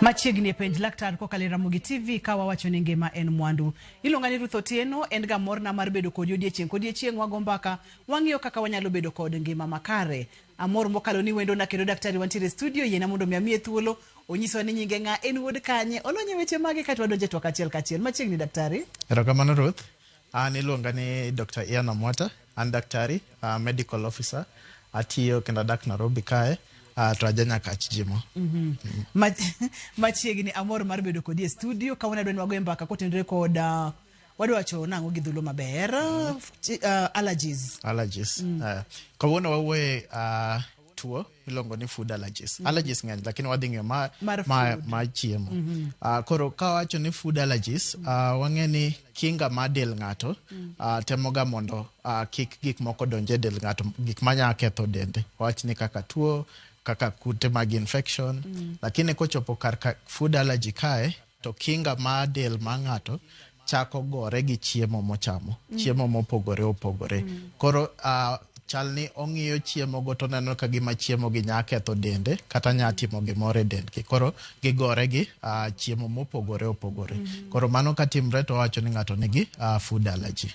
Machiegni e penj laktar kokalo e Ramogi TV ka wawacho ni ngima en mwandu. Iluonga ni Ruth Otieno, en ga morna mar bedo kodi odiechieng' kodiechieng' wago mbaka, wang'iyo kaka wanyalo bedo kod ngima makare. Amor mokalo ni wendona kendo daktari wantiere e studio, yiena mondo mi amiye thuolo, onyisowa ni nyinge ng'a, en wuod kanye, olony e weche mage kae to wadonjo e twak achiel kachiel. Machiegni daktari. Erokamano Ruth. An iluonga ni Dr. Ian Amwata, an daktari, uh, medical officer, atiyo kendo adak Nairobi kae, uh, to aja Nyakach Jimo. Ma- machiegni amor mar bedo kodi e studio kawuono adwa ni wago e mbaka kotenore kod ah, wadwa wacho nang'o gi dhulo maber ah, allergies Allergies. Uh, kawuono wawuoye uh, tuo iluongo ni food allergies. Mm -hmm. Allergies ng'eny lakini wadhi ng'eyo ma, mar, ma, ma chiemo. Mm -hmm. uh, koro ka wacho ni food allergies mm -hmm. uh, wang'e ni kinga ma del ng'ato mm -hmm. uh, temoga mondo uh, kik gik moko donje del ng'ato gik manya ketho dende. Wach ni kaka tuo kaka kute mag infection mm -hmm. lakini kochopo kar food allergy kae To kinga ma del ma ng'ato chako gore gi chiemo mochamo, mm. chiemo mopogore opogore. Mm. Koro uh, chal ni ong'iyo chiemo go to neno ka gima chiemo gi nya ketho dende kata nya timo gimoro e dendgi koro gigore gi uh, chiemo mopogore opogore mm -hmm. koro mano ka timre to wacho ni ng'ato nigi uh, food allergy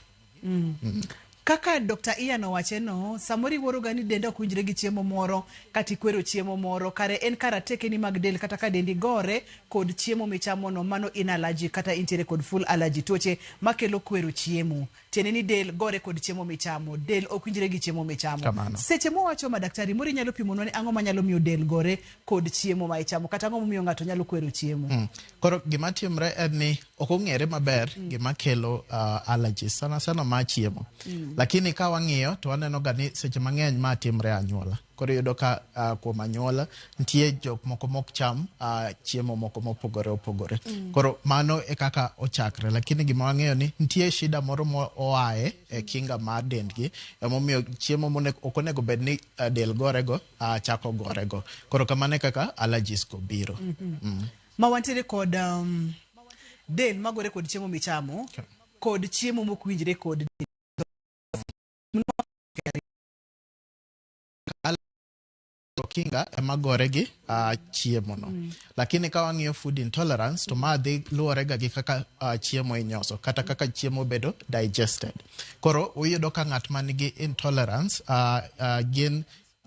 Kaka Dr. Ian owache no, samoro iwuoroga ni denda ok winjre gi chiemo moro kata ikwero chiemo moro, kare en ka ratekeni mag del kata ka dendi gore kod chiemo michamo no, mano in allergic kata intiere kod full allergy, tuoche makelo kwero chiemo. Tiende ni del gore kod chiemo michamo, del ok winjre gi chiemo michamo. Kamano. Seche mowacho ma daktari moro inyalo pimonwa ni ang'o manyalo miyo del gore kod chiemo ma ichamo kata ang'o momiyo ng'ato nyalo kwero chiemo. Koro gima timre en ni ok ong'ere maber mm. gima kelo uh, allergies sana sana ma chiemo mm. lakini ka wang'iyo to waneno ga ni seche mang'eny ma timre anyuola koro yudo ka uh, kuom anyuola nitie jok moko mok cham uh, chiemo moko mopogore opogore mm. koro mano e kaka ochakre lakini gima wang'eyo ni nitie shida moro moaye e kinga mar dendgi emomiyo chiemo ok onego bed ni uh, del gorego uh, chako gorego koro kamano e kaka allergies go biro mm -hmm. mm. ma wantiere kod um, del magore kod chiemo michamo kod chiemo mok winjre kod kinga ema gore gi uh, chiemo no mm. lakini ka wang'iyo food intolerance to ma dhi luwore ga gi kaka uh, chiemo inyoso kata kaka chiemo bedo digested koro uyudo ka ng'at man gi intolerance uh, uh, gin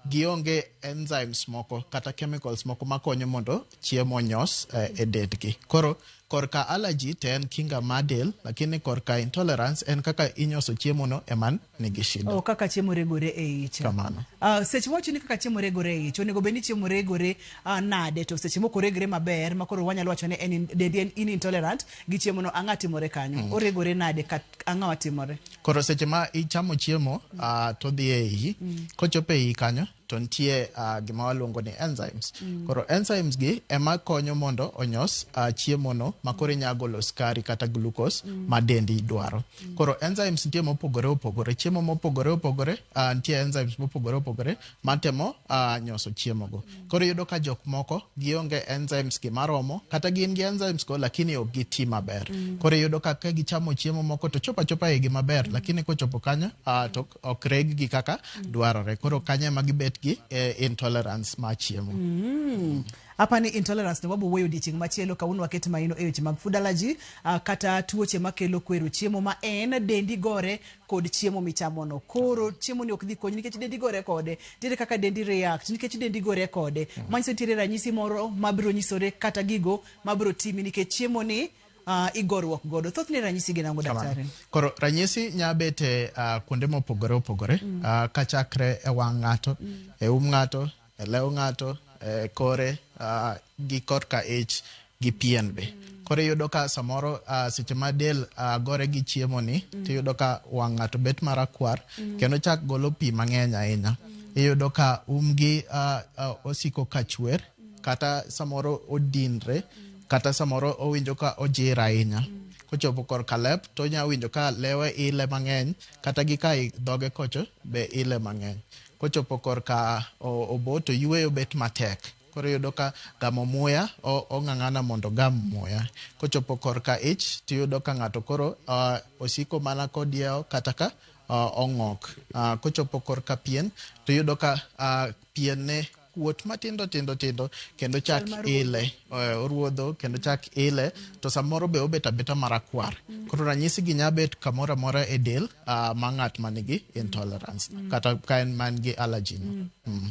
gionge enzymes moko kata chemicals moko makonyo mondo chiemo onyos eh, e dendgi koro korka allergy to en kinga mar del lakini korka intolerance en kaka inyoso chiemono eman nigi shida Oh, kaka chiemo regore e ich. Kamano. Ah, seche mowacho ni kaka chiemo regore e ich, onego bed ni chiemo regore ah, nade to seche moko regre maber ma koro wanyalo wacho ni en in- dendi en in intolerant gi chiemono ang'a timore kanyo. Oregore nade kat- ang'a watimore? Koro seche ma ichamo chiemo uh, to dhi e iyi mm. kochopo e iyi kanyo to nitie uh, gima waluongo ni enzymes mm. koro enzymes gi ema konyo mondo onyos uh, chiemo no ma koro inya golo skari kata glucose mm. ma dendi dwaro mm. koro enzymes nitie mopogore opogore chiemo mopogore opogore uh, nitie enzymes mopogore opogore matemo uh, nyoso chiemogo. Koro yudo ka jok moko gionge enzymes gi maromo kata gin gi enzymes go lakini ok giti maber. Mm. Koro yudo ka ka gichamo chiemo moko to chopa chopa igi maber mm. lakini kochopo kanyo uh, to ok reg gi kaka mm. dwarore. Koro kanyo ema gibet gi eh, intolerance ma chiemo. Mm. Hapa ni intolerance to babu weyo diching machielo kawuono waket maino e weche mag food allergy uh, kata tuoche makelo kwero chiemo ma en dendi gore kod chiemo michamono koro chiemoni ok dhi konyi nikech dendi gore kode nitiere kaka dendi react nikech dendi gore kode manyiso nitiere ranyisi moro mabiro nyisore kata gigo mabiro timi nikech chiemoni uh, igoruok godo thothne ranyisi gin ang'o Kamano. daktari Koro ranyisi nya bet e ah, kuonde mopogore opogore ah, kachakre e wang' ng'ato, e um ng'ato, e lew ng'ato, e kore, uh, gi korka ich gi pien be. Koro iyudo ka samoro uh, seche ma del uh, gore gi chiemo ni mm. tiyudo ka wang' ng'ato bet marakwar mm. kendo chak golo pi mang'eny ahinya. Mm. Iyudo ka umgi uh, uh, osiko ka chwer mm. kata samoro odinre mm. kata samoro owinjo ka ojir ahinya. Mm. Kochopo kor kalep to nya winjo ka lewe ile mang'eny kata gi ka dhoge kocho be ile mang'eny. Kochopo korka obo to yueyo bet matek. Koro iyudo ka gamo muya ong'ang'ana mondo ogam muya. Kochopo korka ich to iyudo ka ng'ato koro osiko mana kodiewo kata ka ong'ok. Kochopo korka pien to iyudo ka pien ne kuot matindo tindo tindo kendo chak ile eh, oruodho kendo chak ile to samoro be obet abeta marakwar mm. koro ranyisi gi nya bet kamoro amora e del uh, ma ng'at manigi intolerance mm. kata ka en man gi allergy no. Mm. Mm.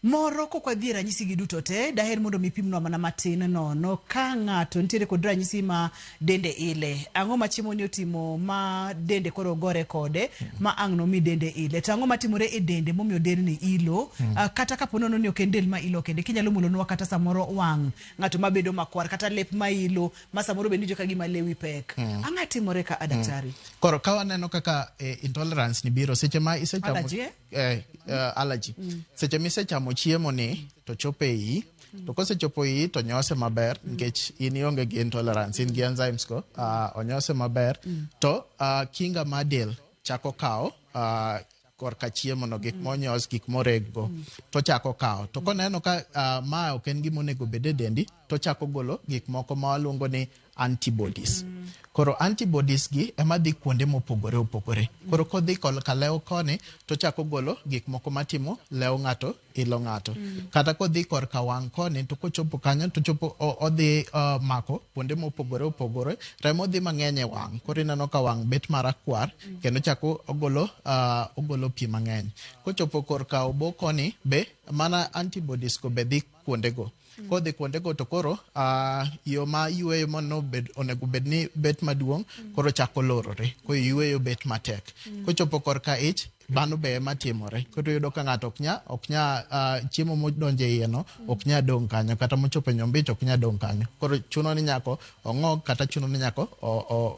moro kok wadhi e ranyisi gi duto te daher mondo mipimnwa mana matin nono ka ng'ato nitiere kod ranyisi ma dende ile ang'o ma chiemoni otimo ma dende koro gore kode ma ang' nomi dende ile to ang'o matimore e dende momiyo delni ilo Ah, kata kapo nono ni ok en del ma ilo kende kinyalo mulonwa kata samoro wang' ng'ato ma bedo makwar kata lep ma ilo ma samoro be nijo ka gima lewi pek ang'a timore ka a daktari Koro ka waneno kaka eh, intolerance ni biro seche ma isechamo Allergy, eh? eh, eh, allergy seche misechamo chiemo ni to chopo e iyi to kosechopo iyi to nyose maber nikech in ionge gi intolerance in gi enzymes go ah, onyose maber to ah, kinga ma del chako kawo ah, korka chiemo no gik monyos gik moreg go to chako kawo to koneno ka ah, ma ok en gima onego bed e dendi to ochako golo gik moko ma waluongo ni antibodies. Koro antibodies gi ema dhi kuonde mopogore opogore. Koro kodhi ka lew koni to chako golo gik moko matimo lew ng'ato ilo ng'ato. Mm. Kata kodhi kor ka wang' koni to kochopo kanyo to chopo odhi uh, mako kuonde mopogore opogore. Remo dhi mang'eny e wang'. Koro ineno ka wang' bet marakwar mm. kendo chako ogolo uh, ogolo pi mang'eny. Kochopo kor ka obo koni be mana antibodies go be dhi kuondego. Mm. Kodhi kuondego to koro uh, yo ma yueyo mano bed, onego bed ni bet maduong' mm. koro chako lorore. Koro yueyo bet matek. Mm. Kochopo korka ich bano be ema timore koro yudo ka ng'ato ok nya ok nya uh, chiemo modonjo e iye no ok nya dong' kanyo kata mochopo e nyombich ok nya dong' kanyo koro chuno ni nyako ong'og kata chuno ni nyako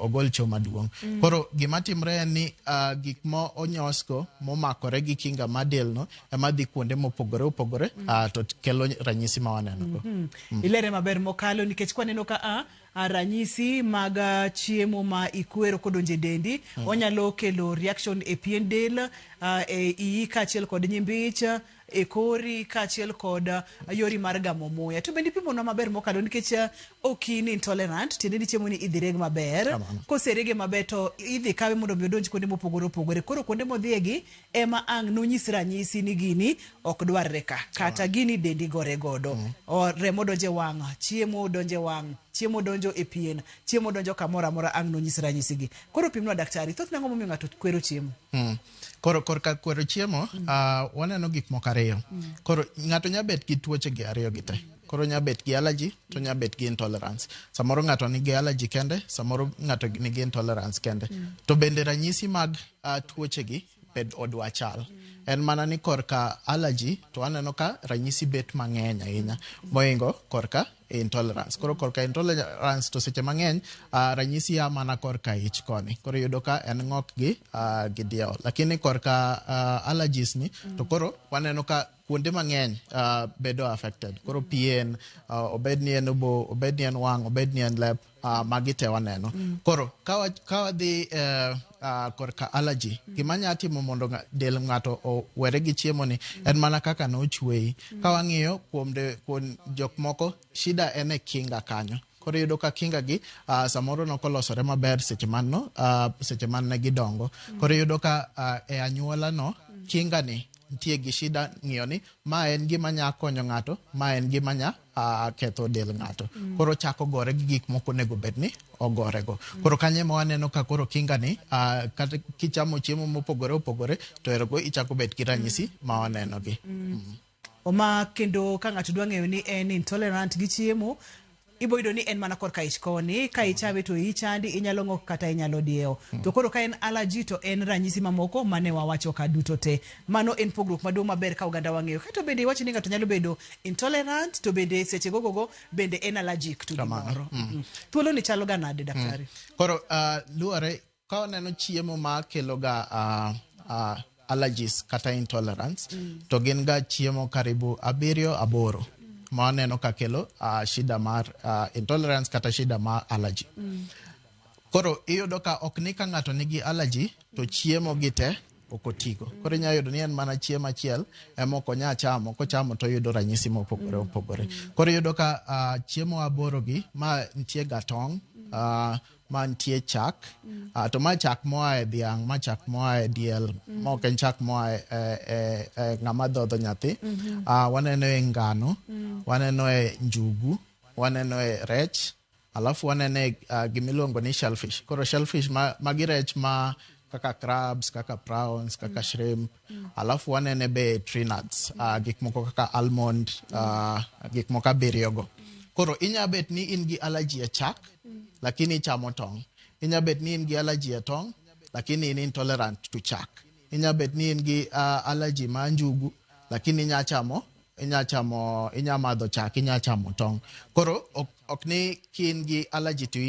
ogol cho maduong' mm. koro gima timre en ni uh, gik mo onyosgo momakore gi kinga ma del no ema dhi kuonde mopogore opogore mm. uh, to kelo ranyisi ma waneno go mm -hmm. mm. ilere maber mokalo nikech kwaneno ka a uh, ranyisi mag uh, chiemo ma ikwero kodonje dendi mm. onyalo kelo reaction e pien del uh, e iyi kaachiel kod nyimbich e kori kaachiel kod uh, yori mar gamo muya to bende ipimonwa maber mokalo nikech uh, ok in intolerant tiende ni chiemo ni idhi reg maber koserege maber to idhi kawe mondo mi odonj kuonde mopogore opogore koro kuonde modhiyegi Ema ang' nonyis ranyisi ni gini ok dwarre ka. Kata gini dendi gore godo. O, remo donjo e wang', chiemo donjo e wang', chiemo donjo e pien, chiemo donjo kamoro amora ang' nonyis ranyisigi. Koro pimnwa daktari, thothne ang'o momiyo ng'ato kwero chiemo? Mm. Koro korka kwero chiemo, ah, waneno gik moko ariyo. Koro ng'ato nya bet gi tuoche gi ariyo gi te. Koro nya bet gi allergy to nya bet gi intolerance. Samoro ng'ato nigi allergy kende, samoro ng'ato nigi intolerance kende. To bende ranyisi mag uh, tuochegi bed odwa chal en mana ni korka allergy to aneno ka ranyisi bet mang'eny ahinya moingo korka intolerance koro korka intolerance to seche mang'eny uh, ranyisi ya mana korka ich koni koro yudo ka en ng'ok gi uh, gi diewo lakini korka uh, allergies ni to koro waneno ka kuonde mang'eny uh, bedo affected koro pien uh, obed ni en obo obed ni en wang' obed ni en lep uh, magi te waneno mm. koro ka wadhi uh, uh, korka allergy mm. gima nya timo mondo del ng'ato owere gi chiemo ni mm. en mana kaka ne ochweyi mm. ka wang'iyo kuom, de, kuom jok moko shida en e kinga kanyo koro iyudo ka kinga gi uh, samoro nokolosore maber seche man no uh, seche man ne gidongo mm. koro iyudo ka uh, e anyuola no mm. kinga ni nitie gi shida ng'iyo ni ma en gima nya konyo ng'ato ma en gima nya a ketho del ng'ato mm. koro chako gore gi gik moko onego bed ni ogore go mm. koro kanye ma waneno ka koro kinga ni a kata kichamo chiemo mopogore opogore to ero go ichako bed gi ranyisi mm. ma waneno gi mm. oma kendo ka ng'ato dwa ng'eyo ni en intolerant gi chiemo iboyudo ni en mana korka ich koni ka ichame to ichandi inyalo ng'ok kata inyalo diewo mm. to koro ka en allergy to en ranyisi mamoko mane wawacho ka duto te Mano en pogruok maduong' maber ka ogandawa ng'eyo. Kae to bende iwacho ni ng'ato nyalo bedo intolerant to bende seche gogogo bende en allergic to gimoro. Mm. Thuoloni chaloga nade, daktari? Mm. Koro ah, luwore ka waneno chiemo ma keloga ah, ah, allergies kata intolerance mm. to gin ga chiemo karibu abiriyo aboro ma waneno ka kelo uh, shida mar uh, intolerance kata shida mar allergy mm. koro iyudo ka ok ni ka ng'ato nigi allergy to chiemo gi te ok otigo. Koro inyalo yudo ni en mana chiemo achiel ema ok onya chamo, kochamo to oyudo ranyisi mopogore mm. opogore. Koro iyudo ka uh, chiemo aborogi ma nitie ga tong', uh, ma nitie chak, mm. uh, to ma chak moa e dhiang', ma chak moa e diel, mm. ma ok en chak moa e, e, e, e ng'ama dhodho nyathi. Mm -hmm. uh, waneno e ngano, mm. waneno e njugu, waneno e rech, Alafu wanene uh, gimiluongo ni shellfish. Koro shellfish ma, magi rech ma kaka crabs, kaka prawns, kaka mm. shrimp. Mm. Alafu wanene be tree nuts, mm. uh, gik moko kaka almond, mm. uh, gik moko abiriyogo. Mm. Koro inya bet ni in gi allergy e chak, mm. lakini ichamo tong'. Inya bet ni in gi allergy e tong', lakini in intolerant to chak. Inya bet ni in gi uh, allergy ma njugu, lakini inya chamo inya chamo inya madho chak inya chamo tong koro ok, ok ni kin gi allergy to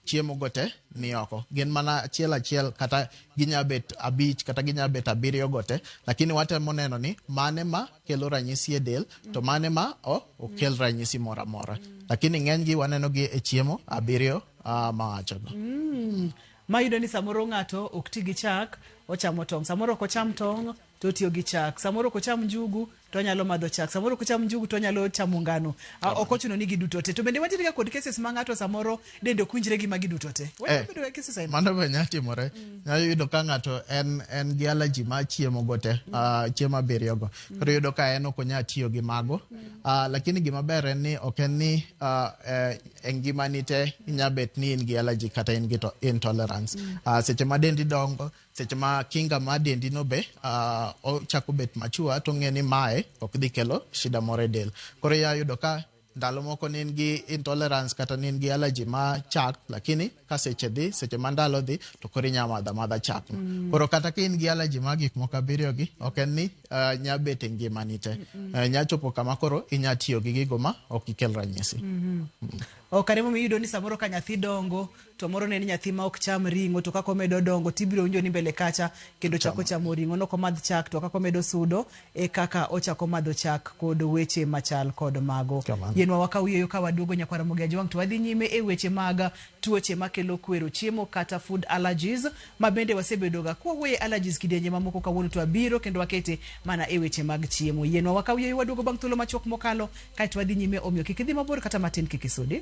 chiemo go te ni oko gin mana achiel achiel kata ginya bet abich kata ginya bet abiriyo go te lakini watemo neno ni mane ma kelo ranyisi e del to mane ma o okel ranyisi moro amora lakini ng'enygi waneno gi e chiemo abiriyo uh, ma wachogo mm. mayudo ni samoro ng'ato ok ti gi chak ochamo tong' samoro ok ocham tong' to otiyo gi chak. Samoro ok ocham njugu to onyalo madho chak. Samoro ok ocham njugu to onyalo chamo ngano. A, Ok ochuno ni giduto te. To bende wantiere ga kod cases ma ng'ato samoro dende ok winjre gi magi duto te. Eh, Wanyalo bedo ga cases aina. mano be nyalo timore nyalo yudo ka ng'ato en en gi alaji ma chiemo go te ah, chiemo abiriyo go koro yudo ka en ok onyal tiyo gi mago Ah, lakini gima ber en ni ok en ni ah, eh, e ngimani te inya bet ni in gi alaji kata in gi to- intolerance Ah, seche ma dendi dongo Seche ma kinga ma dendi no be uh, ochako bet machua to ng'e ni mae ok dhi kelo shida moro e del. Koro ya yudo ka ndalo moko ne in gi intolerance kata ne in gi allergy ma chak lakini ka seche dhi seche ma ndalo dhi to koro inya madha madha chak no. Mm. Koro kata ka in gi allergy ma gik moko abiriyo gi ok en ni uh, nya bet e ngimani te. Mm -mm. Uh, nya chopo kama koro inya tiyo gi gigo ma ok ikel ranyisi. Mm -hmm. Mm. O kare momiyo iyudo ni samoro ka nyathi dongo To moro ne en nyathi ma ok cham ring'o, to kaka omedo dongo to ibiro winjo ni mbele kacha kendo chako chamo ring'o. Ne ok omadh chak to kaka omedo sudo e kaka ochako madho chak kod weche machal kod mago. Kamano. Yienwa wakaw yueyo ka waduogo Nyakwar Ramogi Ajwang' to wadhi nyime e weche mag tuoche makelo kwero chiemo kata food allergies ma bende wasebedoga kwa wuoye allergies kidienje mamoko kawuono to abiro kendo wakete mana e weche mag chiemo. Yienwa wakaw yueyo waduogo bang' thuolo machuok mokalo kaeto wadhi nyime omiyo kik idhi mabor kata matin kik isudi.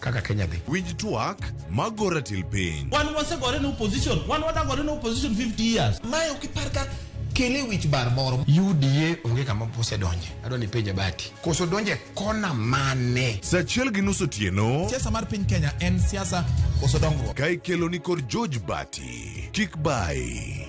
kaka Kenya dhi. Winj twak ma go ratil piny. Wan wasegore ne opposition, wan wadagore ne opposition 50 years. Mae ok ipar ka kele wich bar moro. UDA onge kama pose donje. Adwa ni penja bati. Koso donje kona mane? Saa achiel gi nus otieno. Siasa mar piny Kenya en siasa koso dongruok. Ka ikelo ni kod George Bati. Kik bai.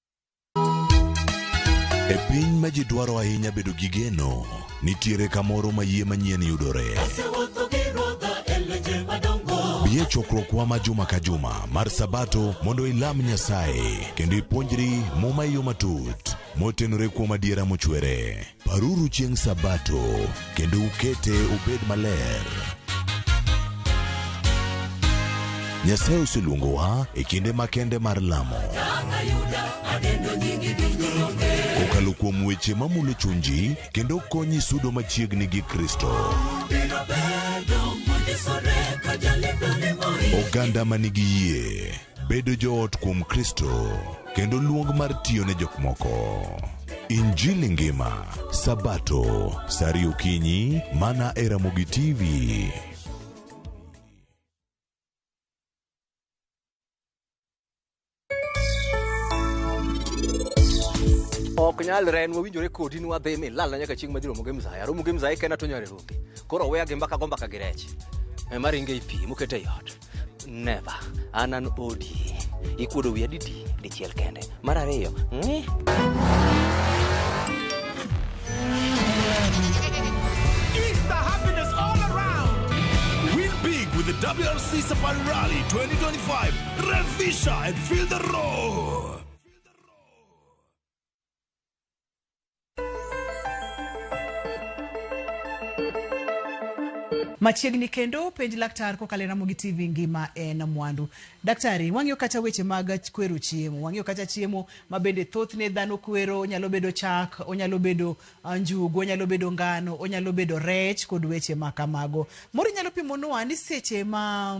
E piny ma ji dwaro ahinya bedo gi geno, nitiere kamoro ma yie manyien yudore. Asewuotho gi Ruodha e leche madongo. Bi e chokruokwa ma juma ka juma mar Sabato mondo ilam Nyasaye kendo ipuonjri Muma e yo matut, motenore kuom adiera mochwere. Paruru chieng' Sabato kendo ukete obed maler. Nyasaye oseluongowa e kinde makende mar lamo. Kokalo kuom weche mamulo chunji kendo konyi sudo machiegni gi Kristo. Oganda manigi yie. Bedo joot kuom Kristo kendo luong mar tiyo ne jok moko. Injili ngima, Sabato, sari okinyi, mana e Ramogi TV. ok nyalre en wawinjore kodi ni wadhi mi lal na nyaka chieng' madhi romo gi mzaya romo gi mzaya kena to nyare roke koro weya gi mbaka go mbaka gi rech ema ringe i pi mokete i ot never an an odi ikuodo wiya didi dichiel kende mar ariyo ng'i Easter happiness all around. Win big with the WRC Safari Rally 2025. Revisha and feel the roar. Machiegni kendo penj laktar kokalo e Ramogi TV ngima en mwandu. Daktari, wang'iyo kacha weche mag kwero chiemo, wang'iyo kacha chiemo ma bende thothne dhano kwero, onyalo bedo chak, onyalo bedo ah, njugu, onyalo bedo ngano, onyalo bedo rech kod weche ma kamago. Moro inyalo pimonwa ni seche ma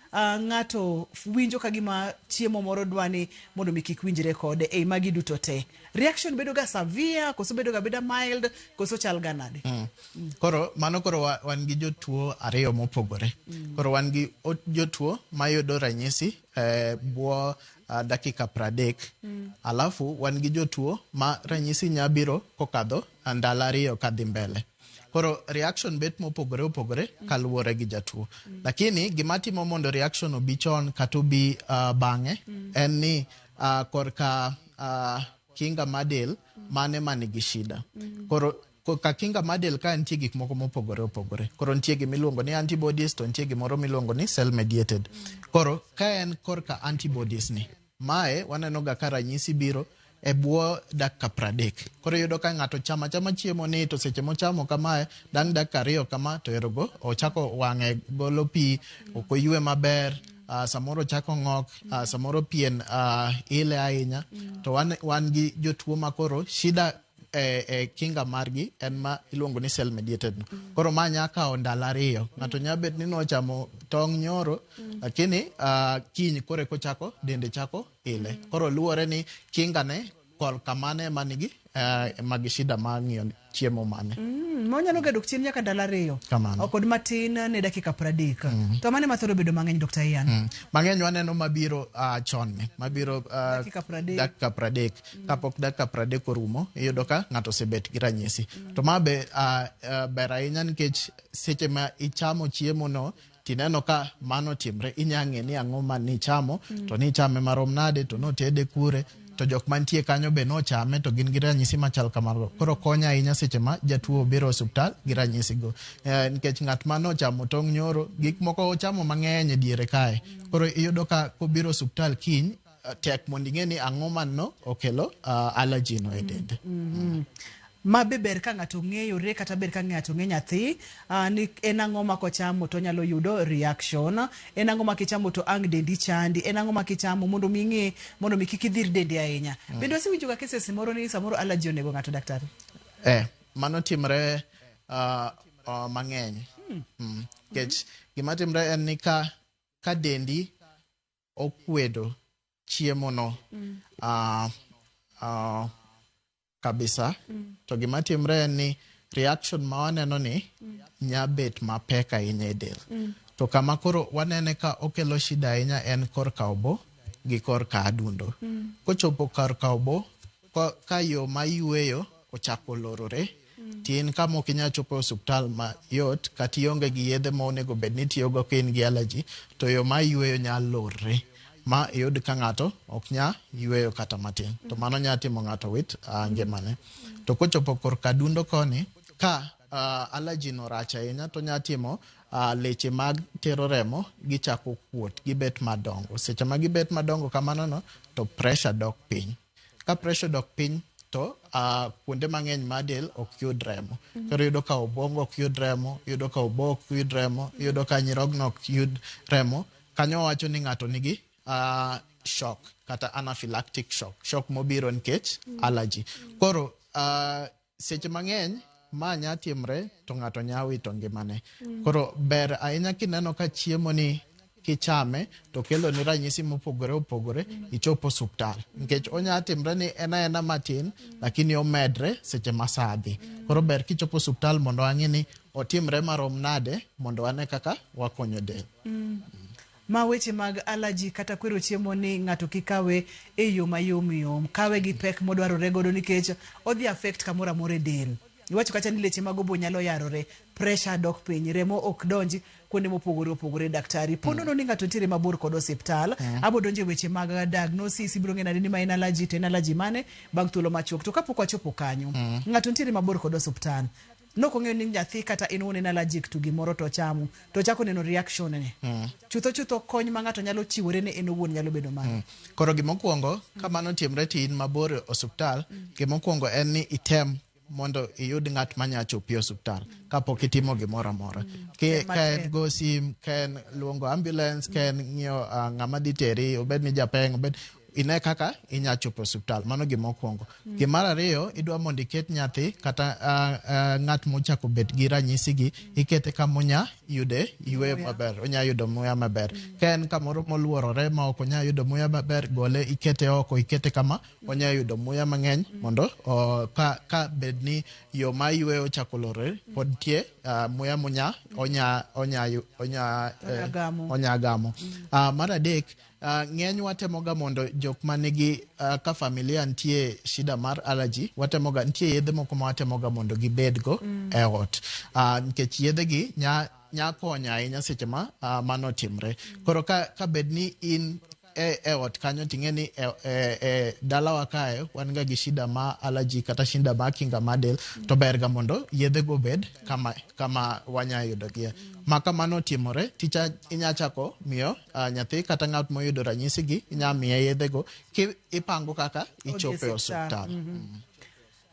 Uh, ng'ato winjo ka gima chiemo moro dwani mondo mi kik winjre kode ei magi duto te reaction bedo ga severe koso bedo ga beda mild koso chal ga nade mm. Mm. koro mano koro wa, wan gi jotuo ariyo mopogore mm. koro wan gi jotuo mayudo ranyisi eh, bwo uh, dakika pradek mm. alafu wan gi jotuo ma ranyisi nya biro kokadho ndalo ariyo kadhi mbele Koro reaction bet mopogore opogore kaluwore gi jatuo. Lakini gima timo mondo reaction obi chon kata obi uh, bang'e en ni uh, korka uh, kinga mar del mane ma nigi shida. Koro ko- ka kinga mar del ka nitie gik moko mopogore opogore. Koro nitie gima iluongo ni antibodies to nitie gimoro miluongo ni cell mediated. Koro ka en korka antibodies ni Mae waneno ga ka ranyisi biro e bwo dakika pradek. Koro iyudo ka ng'ato chama chama chiemo ni to seche mochamo kamae dang' dakika ariyo kama to erogo ochako wang'e golo pi ok oywe maber uh, samoro chako ng'ok uh, samoro pien uh, ile ahinya to wan, wan gi jotuo makoro shida e, e kinga margi en ma iluongo ni cell mediated no. Mm. Koro ma nya kawo ndalo ariyo. Ng'ato nya bet ni nochamo tong' nyoro mm. lakini uh, kiny kore kochako dende chako ile. Mm. Koro luwore ni kinga ne kol kamane manigi uh, e, mag shida ma ng'iyo chiemo mane. Mm, ma onyalo ga dok chien nyaka ndalo ariyo. Kamano. Kod matin ne dakika pradek. Mm. To mane ma thoro bedo mang'eny Dr. Ian? Mm. Mang'eny waneno mabiro uh, chon ne. Mabiro uh, dakika pradek. Dakika pradek. kapok dakika pradek orumo iyudo ka ng'ato osebet gi ranyisi to ma be uh, uh, ber ahinya nikech seche ma ichamo chiemo no tineno ka mano timre inya ng'e ni ang'o ma nichamo to nichame marom nade to notede kure to jok mantie kanyo be nochame to gin gi ranyisi machal kamago koro konya ahinya seche ma jatuo obiro e osiptal gi ranyisigo Eh, nikech ng'at ma nochamo tong' nyoro gik moko ochamo mang'eny e diere kae koro iyudo ka kobiro e osiptal kiny tek mondo ing'e ni ang'o manno okelo uh, allergy no e dende. ma be ber ka ng'ato ng'eyore kata ber ka ng'ato ng'e nyathi ah, ni en ang'o ma kochamo to onyalo yudo reaction en ang'o ma kichamo to ang' dendi chandi en ang'o ma kichamo mondo mi ing'e mondo mi kik idhir dendi ahinya bende wasewinjoga cases moro ni samoro allergy onego ng'ato daktari Eh, mano timre uh, uh, mang'eny. Mm. Nikech gima timre en ni ka, ka dendi okwedo chiemono ah, ah, kabisa to gima timre en ni reaction ma waneno ni nya bet mapek ahinya e del to kama koro wanene ka okelo shida ahinya en kor ka obo gi kor ka adundo kochopo kar ka obo ko- ka yo ma yueyo ochako lorore tin ka mok inyal chopo e osuptal mayot kata ionge gi yedhe ma onego bed ni itiyogo ka in gi allergy to yo ma iyweyo nyalo lorre ma iyud ka ng'ato ok nya yweyo kata matin to mano nya timo ng'ato wit uh, ngimane to kochopo korka dundo koni ka uh, allergy no rach ahinya to nya timo uh, leche mag tero remo gichako kuot gibet madongo seche ma gibet madongo kamano no to pressure dok piny Ka pressure odok piny to uh, kuonde mang'eny ma del ok yud remo. Mm -hmm. Koro yudo ka obwongo ok yud remo, yudo ka obo ok yud remo, yudo ka nyirogno ok yud remo. Kanyo wacho ni ng'ato nigi uh, shock kata anaphylactic shock, shock mobiro nikech mm -hmm. allergy. Koro uh, Seche mang'eny ma nya timre to ng'ato nya wito ngimane. Mm. Koro ber ahinya kineno ka chiemo ni kichame to kelo ni ranyisi mopogore opogore mm. ichop osuptal nikech mm. onya timre ni en aena matin mm. lakini omedre seche ma saa dhi mm. koro ber kichopo osuptal mondo ang'e ni otimre marom nade mondo ane kaka wakonyo del mm. Ma weche mag allergy kata kwero chiemo ni ng'ato kik kawe e yo mayom yom. Kawe gi pek modwarore godo nikech odhi affect kamoro amora e del. Iwacho kacha ni leche mag obo nyalo yarore, pressure dok piny, remo ok donj kuonde mopogore opogore. Daktari, po nono ni ng'ato nitiere mabor kod osiptal, abo donjo e weche mag diagnosis, ibiro ng'e nade ni ma en allergy to en allergy mane bang' thuolo machuok. To kapok wachopo kanyo, ng'ato nitiere mabor kod osiptal, Nok ong'eyo nying nyathi kata en wuon en allergic to gimoro to ochamo to ochako neno reaction ne. Chutho chutho kony ma ng'ato nyalo chiwore ne en owuon nyalo bedo mano. Koro gimokwongo ka mano otimre to in mabor e osuptal, gimokwongo en ni item mondo iyud ng'at ma nya chopi e osuptal kapok itimo gimoro amora. Ki- Tem Ka en matek. go sim, ka en luongo ambulance, ka en ng'iyo ah, ng'ama dhi teri, obed ni japeng', obed ine kaka inya chopo e osiptal mano gima okwongo mm. gima mar ariyo idwa mondo iket nyathi kata uh, uh, ng'at mochako bet gi ranyisi gi mm. ikete kama onya yude yweyo maber onya yudo muya maber mm. ka en kamoro moluorore ma ok onya yudo muya maber gole ikete oko ikete kama mm. onya yudo muya mang'eny mm. mondo uh, ka, ka bed ni yo ma yweyo ochako lorore mm. pod tie uh, muya munya onya onya onya, onya, eh, onya gamo, onya gamo. Mm. Uh, mar adek Uh, ng'eny watemoga mondo jok ma nigi uh, ka familia nitie shida mar allergy watemoga nitie yedhe moko ma watemoga mondo gibedgo mm. e ot uh, nikech yedhegi nya nya konyo ahinya seche ma uh, mano timre mm. koro ka, ka bed ni in e, e ot kanyo ting'e ni e, e, e dalawa kae wan ga gi shida ma allergy kata shida ma kinga ma del mm. to berga mondo yedhego bed kama, kama wanya yudogie mm. ma kamano timore ticha inya chako miyo uh, nyathi kata ng'at moyudo ranyisi gi inya miye yedhe go ki ipango kaka ichope osiptal mm -hmm. mm.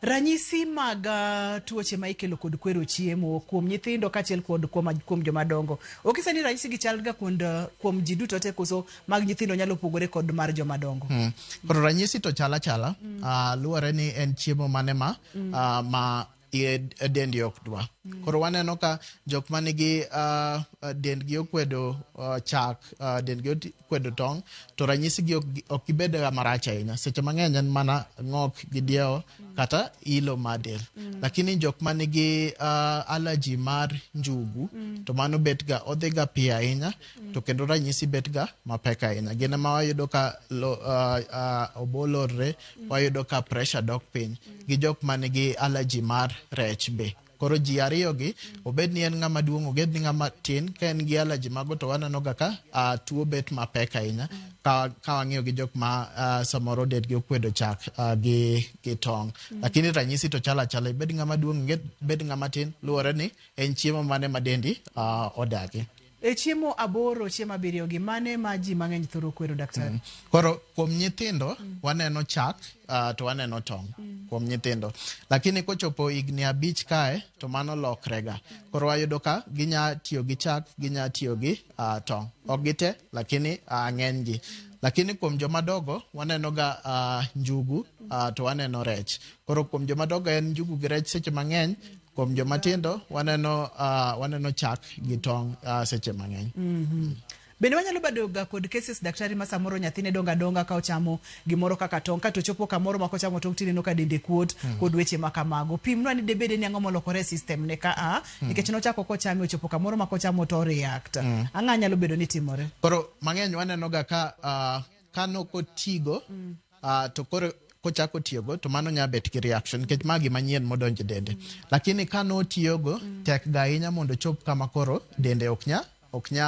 Ranyisi mag uh, tuoche ma ikelo kod kwero chiemo kuom nyithindo kachiel kod kuom, kuom joma dongo. Okisa ni ranyisi gi chalga kuom uh, kuom ji duto te koso mag nyithindo nyalo pogore kod mar joma dongo. Mm. Koro ranyisi to chala chala mm. uh, luwore ni en chiemo mane ma mm. uh, ma e dendi ok dwa. Mm. Koro waneno ka jok ma nigi uh, dendgi okwedo uh, chak, uh, dendgi okwedo tong', to ranyisigi ok, ok gibed marach ahinya. Seche mang'eny en mana ng'ok gi diewo mm. kata ilo mar del. Mm. Lakini jok ma nigi uh, allergy mar njugu, mm. to mano betga, odhiga piyo ahinya, mm. to kendo ranyisi betga mapek ahinya. Gin ema wayudo ka lo, uh, uh, obolorre. wayudo ka pressure dok piny gi jok man gi allergy mar rech be koro ji ariyogi obed ni en ng'ama duong' obed ni ng'ama tin ka en gi allergy mago to wanenoga ka uh, tuo bet mapek ahinya ka, ka wang'iyo gi jok ma uh, samoro dedgi okwedo chak uh, gi, gi tong mm -hmm. lakini ranyisi to chalo achala ibed ng'ama duong' ibed ng'ama tin luwore ni en chiemo mane ma dendi uh, odagi E chiemo aboro, chiemo abiriyo gi mane ma ji mang'eny thoro kwero daktari? Mm. Koro kuom nyithindo mm. waneno chak uh, to waneno tong' mm. kuom nyithindo. Lakini kochopo higni abich kae to mano lokrega. Koro wayudo ka ginya tiyo gi chak, ginya tiyo gi uh, tong'. Ok gite lakini uh, ng'enygi. Lakini kuom joma dogo waneno ga uh, njugu uh, to waneno rech. Koro kuom joma dogo en njugu gi rech seche mang'eny kuom joma tindo waneno uh, waneno chak gi tong uh, seche mang'eny mm -hmm. bende wanyalo bedo ga kod cases daktari ma samoro nyathine donga donga ka ochamo gimoro kaka tong kato chopo kamoro ma kochamo tong tineno ka dende kuot mm. kod weche ma kamago pimnwa ni debede ni ang'o molokore system ne ka a mm. nikech nochako kochame ochopo kamoro ma kochamo to react mm. ang'a nyalo bedo ni timore koro mang'eny waneno ga ka uh, kano kotigo mm. uh, to koro kochako tiyogo to mano nya bet gi reaction nikech ma gima nyien modonj e dende lakini ka notiyogo mm. tek ga ahinya mondo chop kama koro dende ok nya ok nya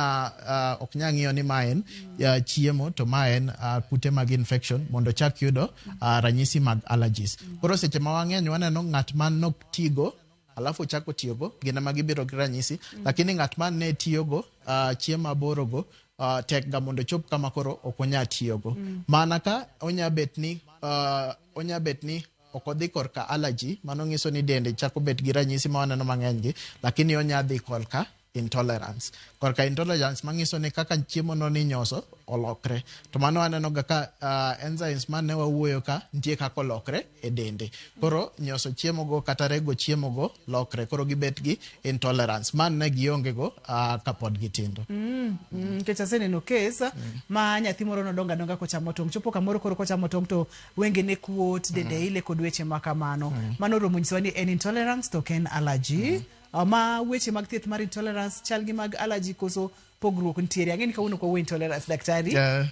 uh, ok nya ng'iyo ni ma en uh, chiemo to ma en uh, kute mag infection mondo chak yudo uh, ranyisi mag allergies koro seche ma wang'eny waneno ng'at ma nok tigo alafu ochako tiyogo gin ema gibiro gi ranyisi mm. lakini ng'at ma ne tiyogo uh, ah, chiemo aborogo uh, ah, tekga mondo ochop kama koro ok onya tiyogo mm. mana ka onya bet ni uh, onya bet ni ok odhi korka allergy mano nyiso ni dende chako bet gi ranyisi ma waneno mang'enygi lakini onya dhi korka intolerance korka intolerance manyiso ni kaka chiemo no ninyoso olokre to mano aneno ga ka uh, enzymes ma ne wawuoyo ka nitie kaka olokre e dende koro nyoso chiemo go kata rego chiemo go lokre koro gibet gi intolerance man ne gionge go uh, kapod gitindo mm, mm, nikech aseneno kes mm. ma nyathi moro nodongo adonga kochamo tong chopo kamoro koro kochamo tong to wenge ne kuot dende mm. ile kod weche ma kamano mm. mano romo nyisowa ni en intolerance to ok en allergy mm. Ah, ma weche mag thieth mar intolerance chal gi mag allergy koso pogruok nitiere ang'e ni kawuono kwawo intolerance daktari Yeah.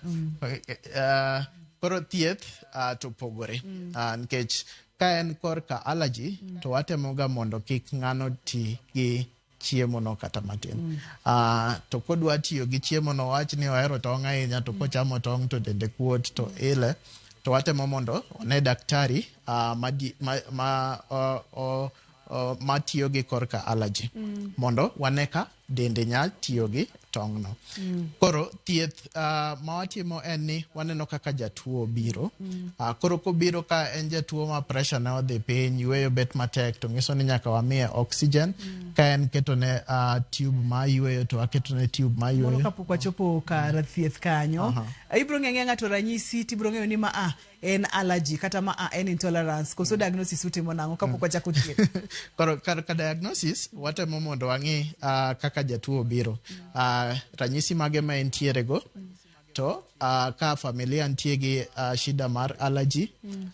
Uh, koro thieth uh, to pogore uh, nikech ka en korka allergy to watemoga mondo kik ng'ano ti gi chiemono kata matin uh, to kodwa tiyo gi chiemono wach ni ohero tong' ahinya to kochamo tong' to dende kuot to ile to watemo mondo one daktari uh, ma, di- ma, ma uh, uh, uh, ma tiyo gi korka allergy mm. mondo wane ka dende nya tiyo gi tong'no mm. koro thieth uh, ma watimo en ni waneno kaka jatuo biro mm. uh, koro kobiro ka en jatuo ma pressure ne odhi piny yueyo bet matek to nyiso ni nyaka wamiye oxygen mm. ka en ketone uh, tube ma yueyo to waketone tube ma yueyo kapok wachopo kar thieth kanyo uh -huh. ibiro ng'eyo ng'ato ranyisi tibiro ng'eyo ni ma a ah, en allergy kata ma a en intolerance koso diagnosis utimo nang'o kapok wachako thieth Koro ka, ka diagnosis watemo mondo wang'e uh, kaka jatuo obiro uh, ranyisi mage ma entiere go to uh, ka familia nitie gi uh, shida mar allergy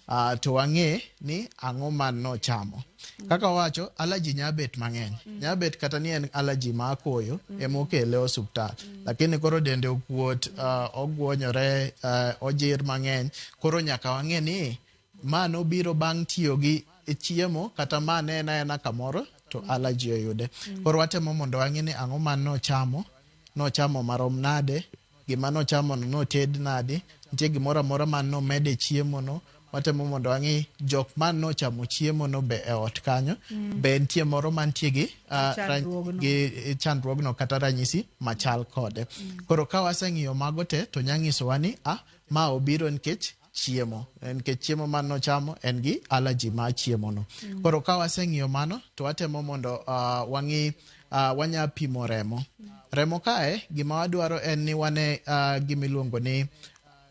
uh, to wang'e ni ang'o ma nochamo Kaka wacho, allergy nya bet mang'eny. Mm. Nya bet kata ni en allergy ma akoyo mm. ema okele osuptal. Mm. Lakini koro dende okuot, uh, ogwonyore, uh, ojir mang'eny. Koro nyaka wang'e ni ma nobiro bang' tiyo gi chiemo kata ma ne en aena kamoro to mm. allergy oyude. Mm. Koro watemo mondo wang'e ni ang'o ma nochamo, nochamo marom nade, Gima nochamono noted nadi? Nitie gimoro amora ma nomed e chiemono? Watemo mondo wang'i jok ma nochamo chiemono be e ot kanyo be nitie moro mantie gi ah, ra- Chandruogno. gi e chandruogno kata ranyisi machal kode. Koro ka waseng'iyo mago te to nya nyisowa ni ah, ma obiro nikech chiemo nikech chiemo man nochamo en gi allergy ma chiemono mm. koro ka waseng'iyo mano to watemo mondo uh, wang'i uh, wanya pimo remo mm. remo kae gima wadwaro en ni wane uh, gimiluongo ni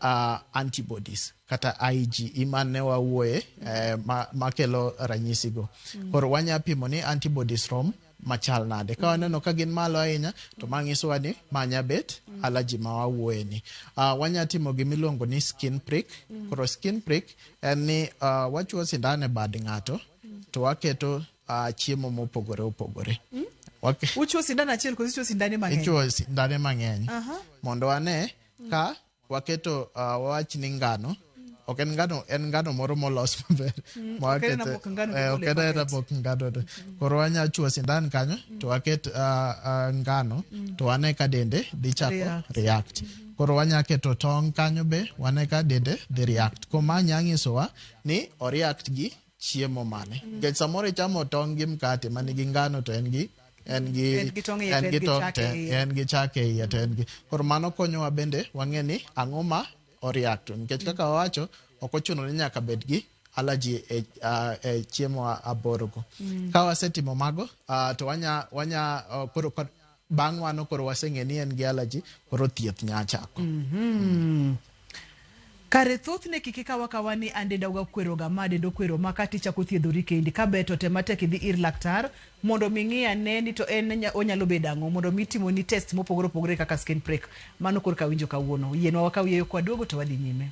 uh, antibodies kata IgE mane wawuoye eh, makelo ma ranyisigo. Mm. Koro wanya pimo ni antibodies rom machal nade ka waneno ka gin malo ahinya to ma nyisowa ni ma nya bet allergy ma wawuoye ni uh, wanya timo gima iluongo ni skin prick koro skin prick en ni uh, wachuo sindan e bad ng'ato to waketo uh, chiemo mopogore opogore Wake- Uchuo sindan achiel koso uchuo sindane mang'eny? ichuo sindane mang'eny Aha. mondo wane ka Waketo uh, wawach ni ngano ok en ngano en ngano moro molos maber mm, ok en aena eh, mok ngano to koro wanya chuo sindan kanyo mm. to waket ah, ah, ngano mm. to wane ka dende dhi chako react koro wanya keto tong' kanyo be wane ka dende dhi react koma nya nyisowa ni oreact gi chiemo mane mm. nikech samoro ichamo tong' gi mkate ma nigi ngano to en gi en gi en gi tong' en gi tong' te en gi chak e iye to en gi koro mano konyowa bende wang'e ni ang'o ma oriact nikech kaka wawacho ok ochuno ni nyaka bed gi allergy e, uh, e chiemo aborogo mm. ka wasetimo mago uh, to wanya wanya uh, koro Bang' mano koro waseng'e ni en gi allergy, koro thieth nya chako. Kare thothne kik ikaw akawa ni an denda ga kwero ga ma denda okwero ma kata ichako thiedhori kendi. Ka ber to tem matek idhi ir laktar mondo mi ng'i ane ni to en nya- onyalo bedo ang'o mondo mi timoni test mopogore opogore kaka skin prick. Mano korka awinjo kawuono. Yienwa wakaw yieyo kwa duogo to wadhi nyime.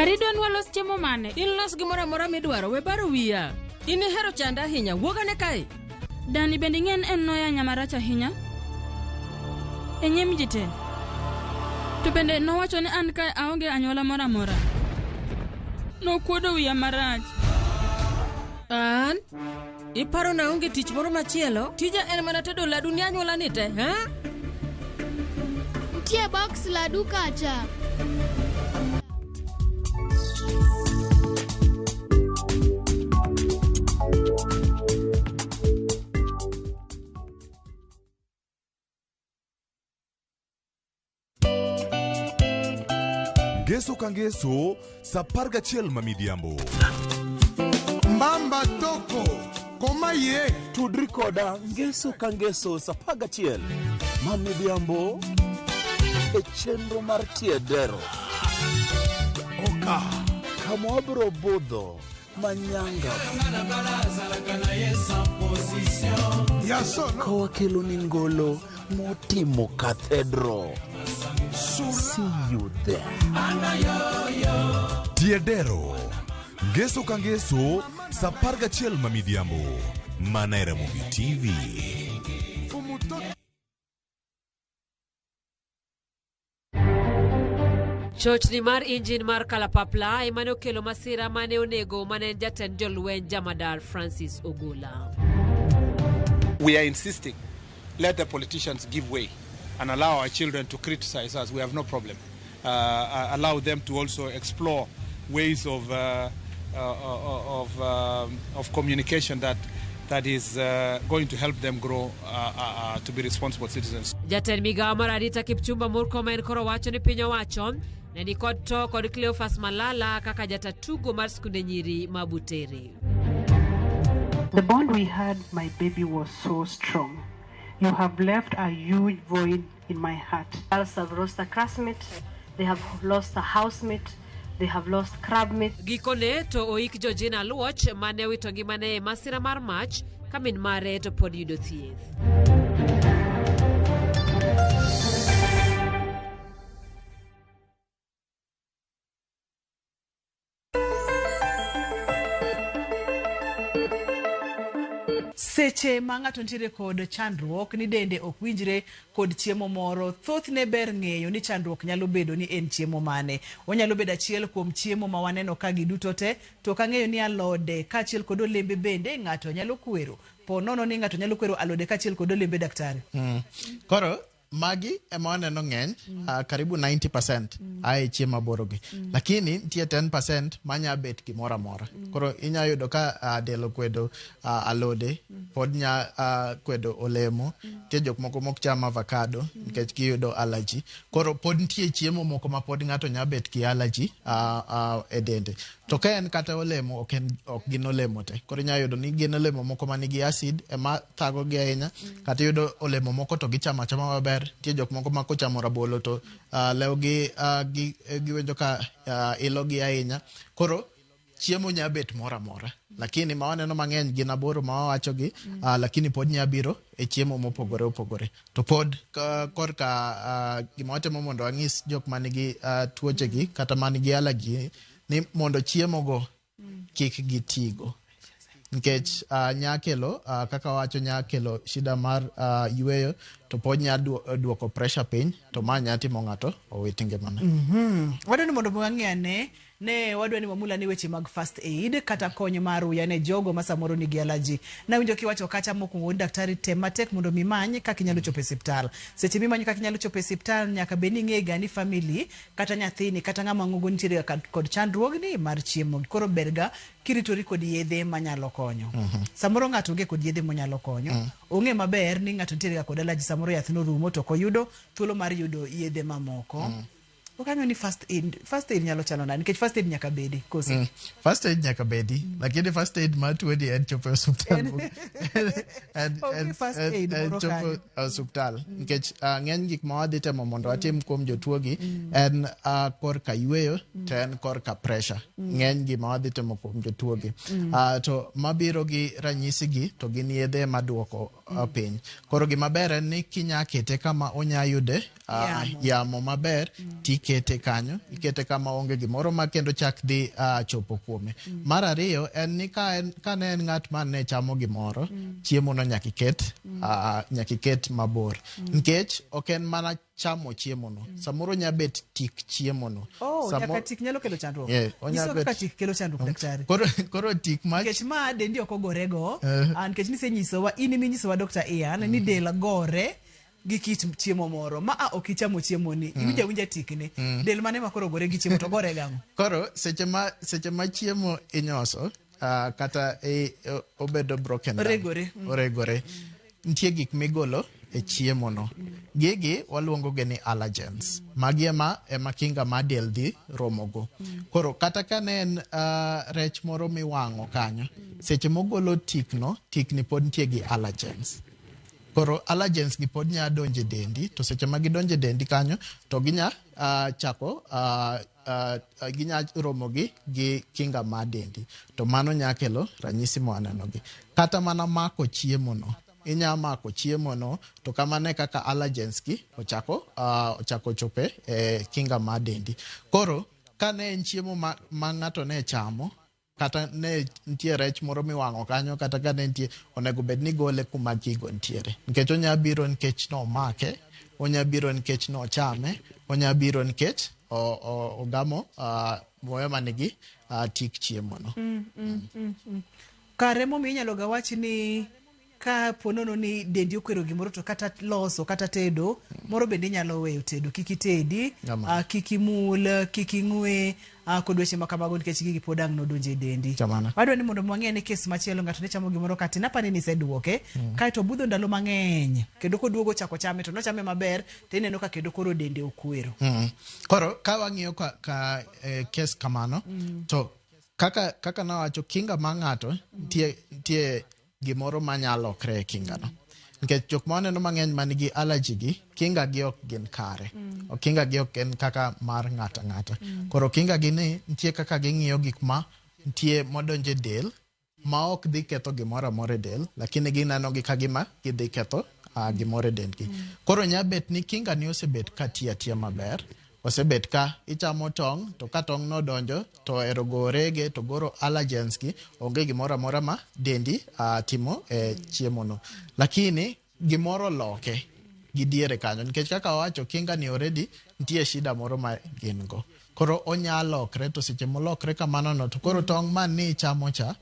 Arido nwalos chiemo mane? Ilos gimoro amora midwaro, we baro wiya. In ihero chanda ahinya, wuog ane kae. Dani bende ing'en en noya nya marach ahinya e nyim ji te. To bende nowacho ni an kae aonge anyuola moro amora. Nokuodo wiya marach. An? Iparo na onge tich moro machielo? Tija en mana tedo ladu ni anyuola ni te, ha? Nitie box ladu kacha. ngeso ka ngeso sa par gachiel ma midhiambo mbamba toko koma ye tudri koda ngeso ka ngeso sa par gachiel ma midhiambo e chenro mar tiedero oka kama wabiro budho manyanga ka wakelo ni ngolo motimo cathedral see you there Tiedero. Ngeso ka ngeso, sa apar gachiel ma midhiambo. Mana e Ramogi TV. Chochni mar injin mar kalapapla ema ne okelo masira ma ne onego ma ne en jatend jolweny Jamadar Francis Ogola. We are insisting, let the politicians give way and allow our children to criticize us. We have no problem. Uh, uh allow them to also explore ways of, uh, uh, uh of, um, of communication that, that is uh, going to help them grow Jatend migawo mar arita Kipchumba Murkomen koro wacho ni piny owacho ne ni kod to kod Cleophas Malala kaka jata tugo mar skunde nyiri ma Butere. The bond we had, my baby, was so strong. You have left a huge void in my heart. Girls have lost a classmate, they have lost a housemate, they have lost crab meat. Gikone to oik Georgina Luoch mane owito ngimane e masira mar mach ka min mare to pod yudo thieth. Seche ma ng'ato nitiere kod chandruok ni dende ok winjre kod chiemo moro, thothne ber ng'eyo ni chandruok nyalo bedo ni en chiemo mane. Onyalo bedo achiel kuom chiemo ma waneno ka giduto te, to ok ang'eyo ni alode kaachiel kod olembe bende ng'ato nyalo kwero. Po nono ni ng'ato nyalo kwero alode kaachiel kod olembe daktari. Mm. Koro magi ema waneno ng'eny mm. uh, karibu 90 percent mm. ae chiemo aborogi mm. lakini nitie 10 percent manya bet gimoro amora mm. koro inya yudo ka uh, del okwedo uh, alode mm. pod nya uh, kwedo olemo mm. nitie jok moko mok cham avocado mm. nikech giyudo allergy koro pod nitie chiemo moko ma pod ng'ato nya bet gi allergy uh, uh, e dende To ka en kata olemo ok en ok gin olemo te. Koro inya yudo ni gin olemo moko ma nigi acid ema thago gi ahinya mm. kata yudo olemo moko to gichamo achama maber. Nitie jok moko ma kochamo rabolo to uh, lewgi uh, gi, eh, giwinjo ka uh, ilogi ahinya. Koro chiemo nya bet moro amora lakini ma waneno mang'eny gin aboro ma wawachogi mm. uh, lakini pod nya biro e chiemo mopogore opogore To pod korka uh, gima watemo mondo wang'is jok man gi uh, tuochegi kata man gi alagi ni mondo chiemogo kik gitigo nikech uh, nyakelo uh, kaka wacho nyakelo shida mar uh, yueyo to pod nya duoko pressure piny to ma nya timo ng'ato owit ngimane. mm -hmm. wadwani mondo wang'e ane Ne wadwa ni wamul ane weche mag first aid kata kony mar ruya ne jogo ma samoro nigi alaji. Nawinjo kiwacho kacha mokwongo wuod daktari tem matek mondo mi imany kaka inyalo chopo e siptal. Seche mimanyo kaka inyalo chopo e siptal nyaka bed ni ing'e ga ni family kata nyathini kata ng'ama ng'ogo nitiere ga kod chandruogni mar chiemo. Koro ber ga kiritori kod yedhe manyalo konyo. Samoro ng'ato onge kod yedhe monyalo konyo. Ong'e maber ni ng'ato nitiere ga kod alaji samoro yath norumo to ok oyudo thuolo mar yudo yedhe mamoko. Ok ang'eyo ni first aid, first aid nyalo chalo nade nikech first aid nyaka bedi kosi. Mm. First aid nyaka bedi, lakini first aid ma tuoni en chopo e osuptal. En- En- Onge en- first en- aid en moro chopo kanyo. e osuptal. Nikech ah, ng'eny gik ma wadhi temo mondo watim kuom jotuogi en ah, korka yueyo to en korka pressure. Ng'eny gima wadhi temo kuom jotuogi. Ah, To mabiro gi ranyisi gi to gin yedhe maduoko ah, piny. Koro gima ber en ni kinya kete kama onya yude uh, yamo maber mm. tikete kanyo ikete kama onge gimoro ma kendo chak dhi uh, chopo kuome mm. mar ariyo en ni ka en, ka ne en ng'at ma ne chamo gimoro mm. chiemo no nyaka iket mm. uh, nyaka iket mabor mm. nikech ok en mana chamo chiemo no mm. samoro nya bet tik chiemo no oh, Samo... nyaka tik nyalo kelo chandruok yeah, onya bet... kaka tik kelo chandruok mm. daktari koro koro tik ma nikech ma dendi ok ogorego uh. Eh. nikech nisenyisowa in iminyisowa dr Ian mm. ni del gore gi kit chiemo moro ma a ok ichamo chiemoni, mm. iwinjo awinja tikni, mm. del mane ma koro ogore gi chiemo to gore gang'o? Koro seche ma seche ma chiemo inyoso uh, kata e, obedo broken oregore mm. oregore nitie gik migolo e chiemo no gigi waluongo gi ni allergens magi ema ema kinga ma del dhi romogo koro kata ka ne en uh, rech moro miwang'o kanyo seche mogolo tikno tikni pod nitie gi allergens Koro allergens gi pod nya donjo e dendi to seche ma gidonjo e dendi kanyo to ginya uh, chako uh, uh, ginya romo gi gi kinga ma dendi to mano nya kelo ranyisi mwaneno gi kata mana mako chiemo no inya mako chiemo no to kamano e kaka allergens gi ochako uh, ochako chope e kinga ma dendi koro kane en chiemo ma, ma ng'ato ne chamo kata ne nitie rech moro miwang'o kanyo kata ka ne nitie onego bed ni gole kuma gigo nitiere nikech onya biro nikech nomake onya biro nikech nochame onya biro nikech o- o- ogamo ah, muya ma nigi ah, tik chiemono Kare momiyo inyalo ga wachi ni Ka po nono ni dendi okwero gimoro to kata loso kata tedo moro bende inyalo weyo tedo kik itedi Ama. ah, kik imul kik ing'we ah, kod weche ma kamago nikech gigi pod ang' nodonjo e dendi Kamano. wadwa ni mondo mwang'e ni kes machielo ng'ato ne chamo gimoro kati napani ni iseduoke kaeto obudho ndalo mang'eny kendo koduogo ochako chame to nochame maber to ineno ka kendo koro dende okwero Mm. Koro ka wang'iyo ka, ka eh, kes kamano to kaka kaka nawacho kinga ma ng'ato tie tie gimoro ma nya lokre e kingano nikech jok ma waneno mang'eny man gi allergy gi kinga gi ok gin kare mm. kinga gi ok en kaka mar ng'ata ng'ata mm. koro kinga gi ni nitie kaka ging'iyo gik ma nitie modonje del ma ok dhi ketho gimoro amora e del lakini gineno gi ka gima gidhi ketho uh, gimoro e dendgi mm. koro nya bet ni kinga ni osebet ka tiya tiya maber Osebet ka ichamo tong' to ka tong' no donjo to ohero go orege to goro allergens gi onge gimoro amora ma dendi uh, timo e eh, chiemo no. Lakini gimoro loke gi diere kanyo nikech kaka owacho kinga ni already nitie shida moro ma gin go. Koro onya lokre to seche molokre kamano no to koro tong' man ni ichamo cha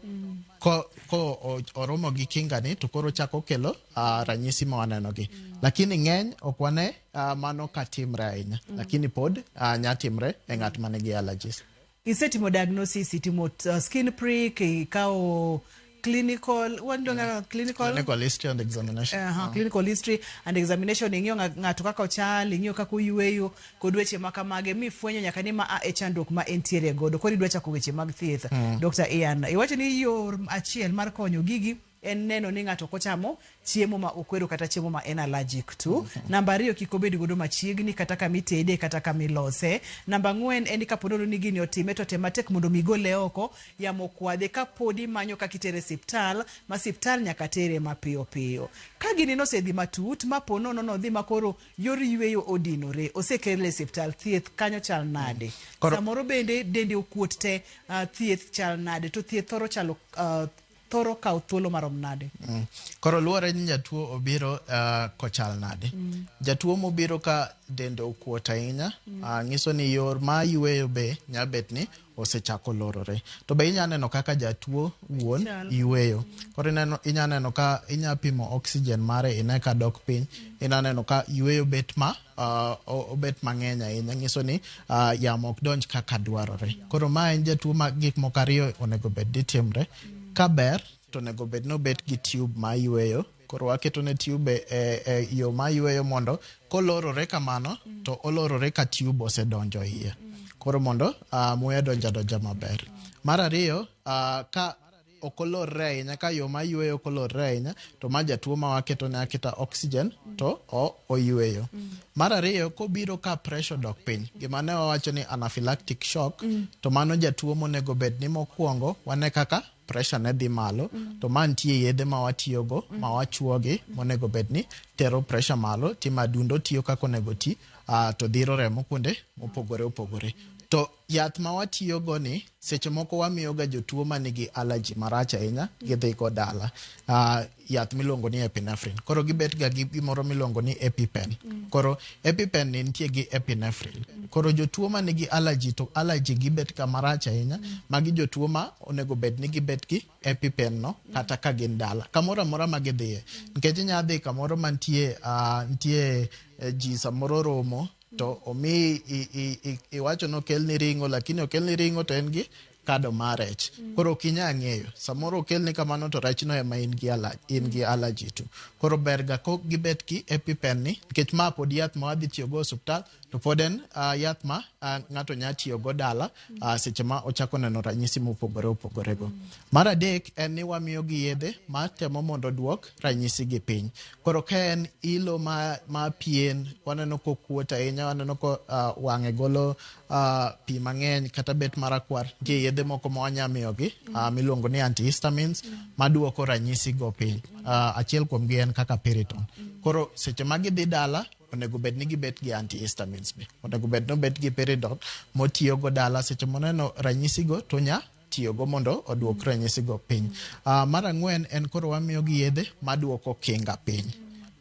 ko, ko oromo gi kinga ni to koro chako kelo uh, ranyisi ma waneno gi. Lakini ng'eny ok wane Uh, mano ka timre ahinya mm. lakini pod uh, nya timre e ng'at ma nigi allergies. Isetimo diagnosis, itimo uh, skin prick, ikawo clinical what do yeah. clinical clinical history and examination uh -huh. uh. clinical history and examination ing'iyo ng'ato kaka ochal ing'iyo kaka oyueyo kod weche ma kamage mi fwenyo nyaka ni ma a e chandruok ma entiere godo koro idwa chako weche mag thieth mm. Dr. Ian iwacho ni yor achiel mar konyo gigi en neno ni ng'ato ok ochamo chiemo ma okwero kata chiemo ma en allergic to. Namba ariyo kik obed godo machiegni kata kama itede kata kama ilose. Namba ang'wen en ni kapo nono ni gini otime to tem matek mondo mi igole oko yamo okwadhe kapodi imanyo kaka itere e siptal ma siptal nyaka tere mapiyo piyo. Ka gini nosedhi matut ma po nono nodhi ma koro yor yueyo odinore osekele e siptal thieth kanyo chal nade? Koro- Samoro bende dende okuot te ah, thieth chal nade to thieth thoro chalo ah, thoro kawo thuolo marom nade? Mm. Koro luwore ni jatuo obiro uh, kochal nade. Mm. Jatuo mobiro ka dende okuot ahinya mm. uh, nyiso ni yor ma yueyo be nyabet ni osechako lorore. To be inya neno kaka jatuo wuon yueyo. Koro ineno inya neno ka inya pimo oxygen mare ine ka dok piny. Mm. Ina neno ka yueyo bet ma uh, obet mang'eny ahinya nyiso ni uh, yamo ok donj kaka dwarore koro ma en jatuo ma gik moko ariyo onego bed ni timre ka ber to onego bed ni obet gi tube ma yweyo koro waketo ne tube e, e yo ma yweyo mondo kolorore kamano to olorore ka tube osedonjo iye koro mondo uh, muya donja donja maber mar ariyo uh, ka ok olorre ahinya ka yo ma yueyo ok olorre ahinya to ma jatuo ma waketone aketa oxygen to o, oyueyo mar ariyo kobiro ka pressure odok piny gima ne wawacho ni anaphylactic shock to mano jatuo monego bed ni mokwongo wane kaka pressure ne dhi malo to ma nitie yedhe ma watiyogo ma wachuogi monego bed ni tero pressure malo ti ma adundo tiyo kaka onego ti ah, to dhiro remo kuonde mopogore opogore to Yath ma watiyogo ni seche moko wamiyoga jotuo ma nigi allergy marach ahinya gidhigo dala uh, yath miluongo ni epinephrine koro gibetga gi gimoro miluongo ni epipen mm. koro epipen ni nitie gi epinephrine koro jotuo ma nigi allergy to allergy gibetga marach ahinya mm. magi jotuo ma onego bed ni gibet gi epipen no mm. kata ka gin dala kamoro amora ma gidhiye mm. nikech inyalo dhi kamoro mantie uh, nitie uh, ji samoro romo to omi i- i- i- iwacho ni okelni ring'o lakini okelni ring'o to en gi kado mar rech koro ok inya ng'eyo samoro okelni kamano to rechno ema in gi ala- in gi allergy to koro berga ko gibet gi epipen ni nikech ma pod yath ma wadhi tiyogo e osuptal to pod en ah, yath ma ah, ng'ato nya tiyogo dala uh, seche ma ochako neno ranyisi mopogore opogore go. Mar adek en ni wamiyo gi yedhe ma temo mondo oduok ranyisi gi piny. Koro ka en ilo ma, ma pien, waneno kokuot ahinya, waneno ko uh, wang'e golo uh, pi mang'eny kata bet marakwar, nitie yedhe moko ma wanya miyogi uh, miluongo ni antihistamines maduoko ranyisi go piny. Uh, achiel kuomgi en kaka Piriton. Koro seche ma gidhi dala onego bed ni gibet gi antihistamines be onego bed ni obet gi peridol motiyogo dala seche moneno ranyisigo to nya tiyogo mondo oduok ranyisigo piny uh, mar ang'wen en koro wamiyogi yedhe maduoko kinga piny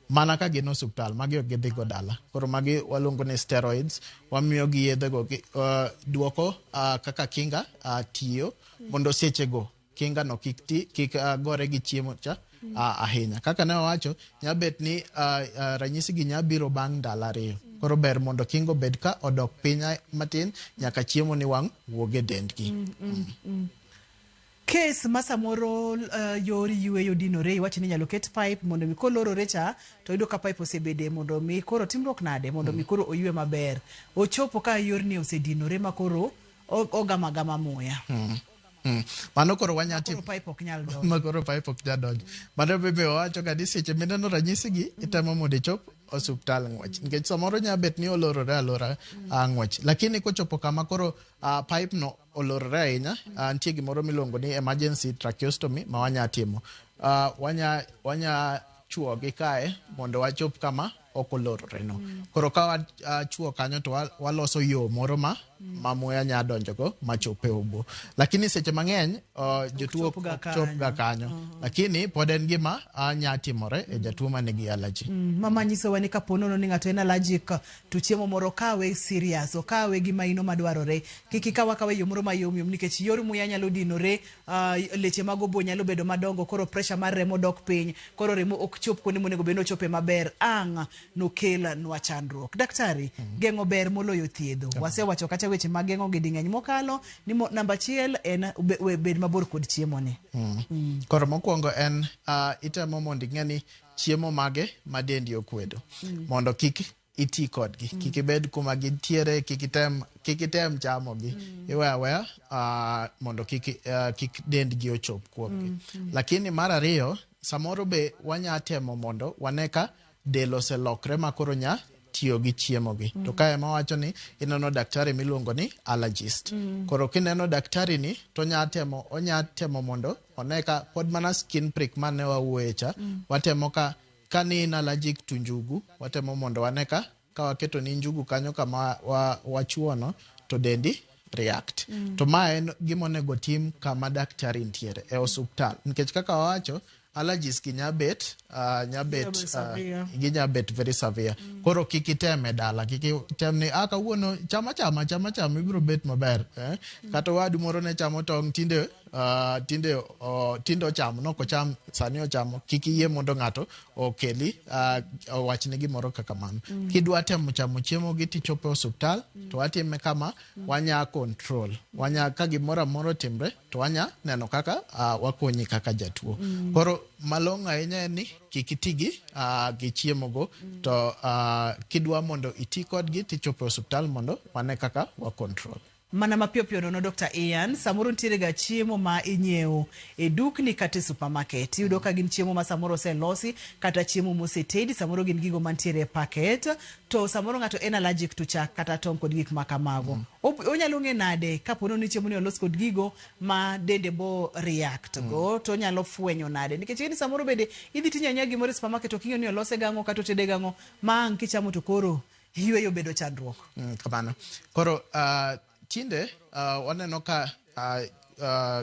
mana ka gin osuptal magi ok gidhigo dala koro magi waluongo ni steroids wamiyo gi yedhego uh, duoko uh, kaka kinga uh, tiyo mondo sechego kinga no kik ti kik uh, gore gi chiemo cha uh, ahinya kaka ne wawacho nyabet ni uh, uh, ranyisi gi nyabiro bang' ndalo ariyo koro ber mondo kingo bed ka odok piny matin nyaka chiemo ni wang' wuog e dendgi mm, mm, mm. kes ma samoro uh, yor yueyo dinore iwacho ni inyalo ket pipe mondo mi kolorore cha to yudo ka pipe osebede mondo mi koro timruok nade mondo mi mm. koro oyue maber ochopo ka yorni osedinore ma koro ogamagama muya mm. Hmm. Mano koro wanya timo. Koro pipe ok nyal donjo. Ma koro pipe ok nyal donjo. Mano bebe wacho ga ni seche mineno ranyisi gi itemo mondo ichop osuptal ng'wech. Nikech samoro nya bet ni olorore alora mm. Ah, ng'wech. Lakini kochopo kama koro uh, pipe no olorore ahinya, uh, nitie gimoro miluongo ni emergency tracheostomy ma wanya timo. Uh, wanya wanya chwo gi kae mondo wachop kama ok olorore no. Mm. Koro ka wachwo ah, kanyo to waloso yo moro ma mm. ma muya nya donjogo ma chope obo. Lakini seche mang'eny uh, jotuo ok chopga kanyo. Uh -huh. Lakini pod en gima uh, nya timore mm. e jatuo ma nigi allergy. Mm. Mama nyisowa ni kapo nono ni ng'ato en allergic to chiemo moro kawe serious, okawe gi maino madwarore. Kik ikaw akawa e yo moro mayomyom nikech yor muya nyalo dinore Uh, leche mag obo nyalo bedo madongo koro pressure mar remo dok piny koro remo ok chop kuonde monego bed ni ochope maber ang' nokel nwa chandruok daktari mm. geng'o ber moloyo thiedho okay. wasewacho kata weche mag geng'o gi ding'eny mokalo ni mo, namba achiel en be, bed mabor kod chiemo ni mm. mm. koro mokwongo en uh, itemo mondo ing'e ni chiemo mage ma dendi okwedo mm. mondo kik iti kodgi mm. kik ibed kuma gintiere kik item kik item chamogi mm. iwe aweya uh, mondo kik, uh, kik dendgi ochop kuomgi mm. mm. lakini mar ariyo samoro be wanya temo mondo wane ka del oselokre ma koro nya tiyo gi chiemogi mm. to ka ema wacho ni ineno daktari miluongo ni allergist mm. koro kineno daktari ni to nya temo onya temo mondo one ka pod mana skin prick mane wawuoye cha mm. watemo ka Ka ni in allergic to njugu, watemo mondo wane ka ka waketo ni njugu kanyo kama wa, wachuono to dendi react. Mm. To ma en gima onego tim kama daktari ntiere e osuptal. Nikech kaka wawacho, allergies gi nyabet uh, nyabet uh, gi nyabet very severe mm. koro kik item e dala kik item ni ah kawuono chama chama chama chama ibiro bet maber eh? mm. kata wadu moro ne chamo tong tinde Uh, tinde uh, tinde ochamo nok ocham sani ochamo kik iyie mondo ng'ato okeli uh, owachne gimoro kaka mano mm. kidwa temo chamo chiemo gi tichopo osuptal mm. to watime kama mm. wanya control wanya ka gimoro amoro timre to wanya neno kaka uh, wakonyi kaka jatuo mm. koro malong'o ahinya en ni kik iti gi uh, gi chiemo go mm. to uh, kidwa mondo iti kodgi tichopo osuptal mondo wane kaka wa control Mana mapiyo piyo nono Dokta Ian, samoro nitiere ga chiemo ma inyiewo e dukni kata e supermarket. Iyudo ka gin chiemo ma samoro oselosi kata chiemo mosetedi, samoro gin gigo mantiere e packet. To samoro ng'ato en allergic to chak kata tong' kod gik ma kamago. Op- Onyalo ng'e nade ka po ni chiemo ni olos kod gigo ma dende bo react go to onyalo fwenyo nade? Nikech ing'e ni samoro bende idhi tinyiewo anyiewa gimoro e supermarket ok ing'eyo ni olose gang'o kata otede gang'o ma ang' kichamo to koro yueyo bedo chandruok. Mm, kamano. Koro uh, tinde uh, waneno ka uh, uh,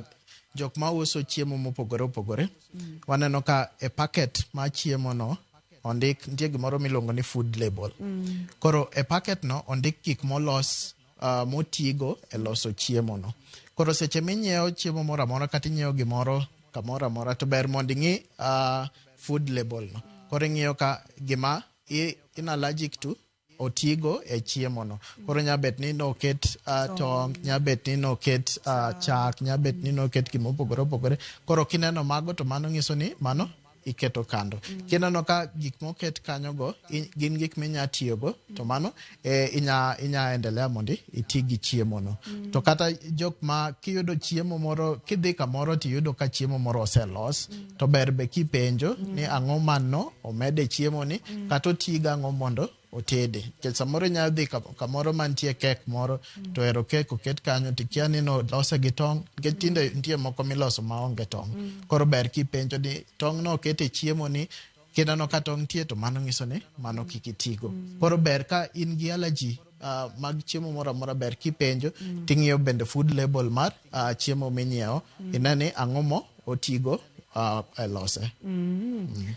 jok ma uso chiemo mopogore opogore mm. waneno ka e paket ma chiemo no ondik nitie gimoro miluongo ni food label. Mm. Koro e paket no ondik gik molos uh, motigo e loso chiemo no. Koro seche minyiewo chiemo moro amora kata inyiewo gimoro kamoro amora to ber mondo ing'i uh, food label no. Koro ing'iyo ka gima in allergic to otigo e chiemo no koro nya bet ni noket uh, tong nya bet ni noket uh, chak nya bet ni noket gima opogore opogore koro kineno mago to mano nyiso ni mano iketo kando kineno ka gik moket kanyogo i- gin gik minya tiyogo to mano e, inya inya endelea mondo iti gi chiemo no mm. to kata jok ma kiyudo chiemo moro kidhi kamoro tiyudo ka chiemo moro oselos mm. to ber be kipenjo mm. ni ang'o manno omede chiemo ni mm. kata otiga ang'o mondo otede nikech samoro inyalo dhi kamoro mantie kek moro to ero kek oket kanyo to ikia ni nolose gi tong' nikech tinde nitie moko miloso maonge tong' mm. koro ber kipenjo ni tong'no oket e chiemo ni kinano ka tong' tie to mano nyiso ni mano mm. kik itigo mm. koro ber ka in gi alaji uh, ah, mag chiemo moro amora ber kipenjo mm. ting'iyo bende food label mar uh, chiemo minyiewo mm. ine ni ang'o mo otigo uh, e lose mm. Mm.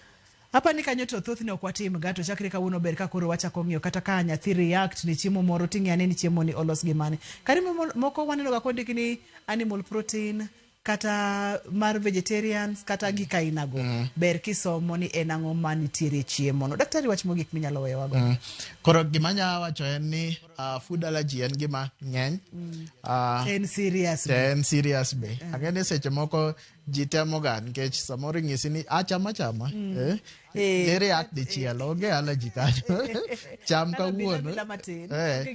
Hapa ni kanyo to thothne ok watim ga to chakre kawuono ber ka koro wachako ng'iyo kata ka nyathi react ni chiemo moro ting'e ane ni chiemo ni olos gi mane. Kare moko waneno ga kondiki ni animal protein kata mar vegetarians kata gik ainago mm. ber kisomo ni en ang'o ma nitiere chiemono daktari wach mogik minyalo weyowago mm. koro gima nya wacho en ni uh, food allergy en gima ng'eny mm. uh, en serious be. en serious be mm. ang'e ni seche moko ji temoga nikech samoro ing'isi ni achama ah, chama mm. eh? eh, ere ak dichiel eh, onge allergy kanyo cham kawuono eh,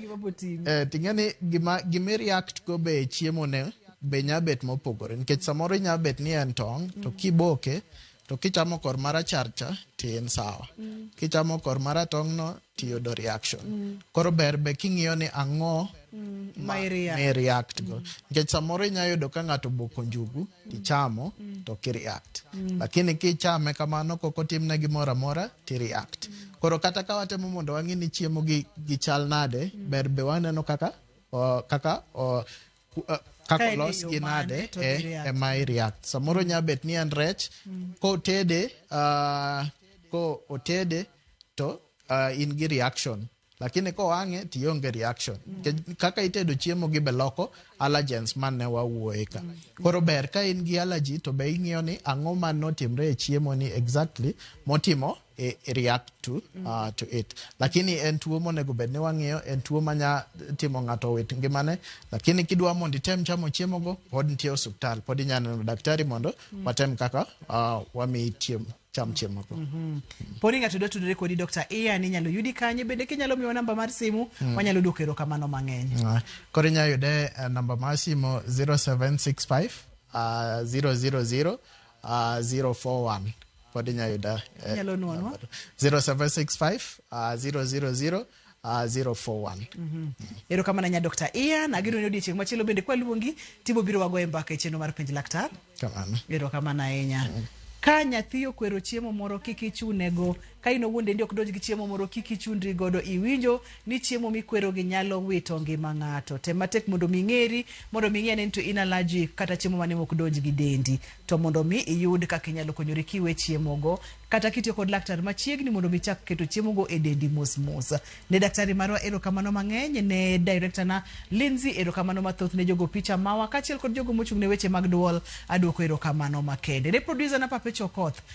eh, ting'e ni gima, gima react go be chiemo ne be nya bet mopogore nikech samoro inya bet ni en tong' to mm. kiboke to kichamo kor marachar cha ti en sawa mm. kichamo kor maratong' no tiyudo reaction mm. koro ber be king'iyo ni ang'o mm. ma react go mm. nikech mm. samoro inya yudo ka ng'ato boko njugu mm. tichamo mm. to kireact mm. lakini kichame kamano kok otimne gimoro amora tireact mm. koro kata ka watemo mondo wang'e ni chiemo gi, gi chal nade mm. ber be waneno kaka o, kaka o, kaka olos gi nade eh, ema iriath samoro nya bet ni en rech mm. ko tede uh, ah, ko otede to uh, in gi reaction lakini ko wang'e to ionge reaction mm. kaka itedo chiemo gi beloko allergens man ne wawuoye ka mm. koro ber ka in gi allergy to be ing'iyo ni ang'o man notimre e chiemo ni exactly motimo react to, uh, to it lakini en tuo monego bed ni wang'iyo en tuo manya timo ng'ato owit ngimane lakini kidwa mondo item chamo chiemogo pod nitie osuptal pod inya neno daktari mondo watem kaka uh, wamiyi chiemo cham chiemogo Poni ng'ato dwa tudore kodi Dr. Ian inyalo yudi kanye bende kinyalo miwa namba mar simu wanyalo duoko erokamano mang'eny. Uh, koro inya yude uh, namba mar simo 0765 uh, 000 Uh, 041 pod inya yuda eh, Inyalo nwanwa. 0765 uh, 000 uh, 041 erokamano nya dr ian ageno ni odiochieng' machielo bende kwaluongi tibo biro wago e mbaka e chenro mar penj laktar kamano erokamano ahinya ka nyathi okwero chiemo moro kik ichunego Ka in owuon dendi ok donj gi chiemo moro, kik ichundri godo. Iwinjo ni chiemo mikwerogi nyalo wito ngima ng'ato. Tem matek mondo omi ing'eri, mondo omi ing'e ane ni to in allergic kata chiemo mane mok donj gi dendi. To mondo omi iyud kaka inyalo konyori kiwe chiemogo, kata kitiyo kod laktar machiegni mondo omi ichak keto chiemogo e dendi mos mos. Ne daktari marwa erokamano mang'eny, ne director na Lindsey erokamano mathoth, ne jogo picha mawa, kaachiel kod jogo mochung' ne weche mag dwol, aduoko erokamano makende. Ne producer na Perpetual Koth,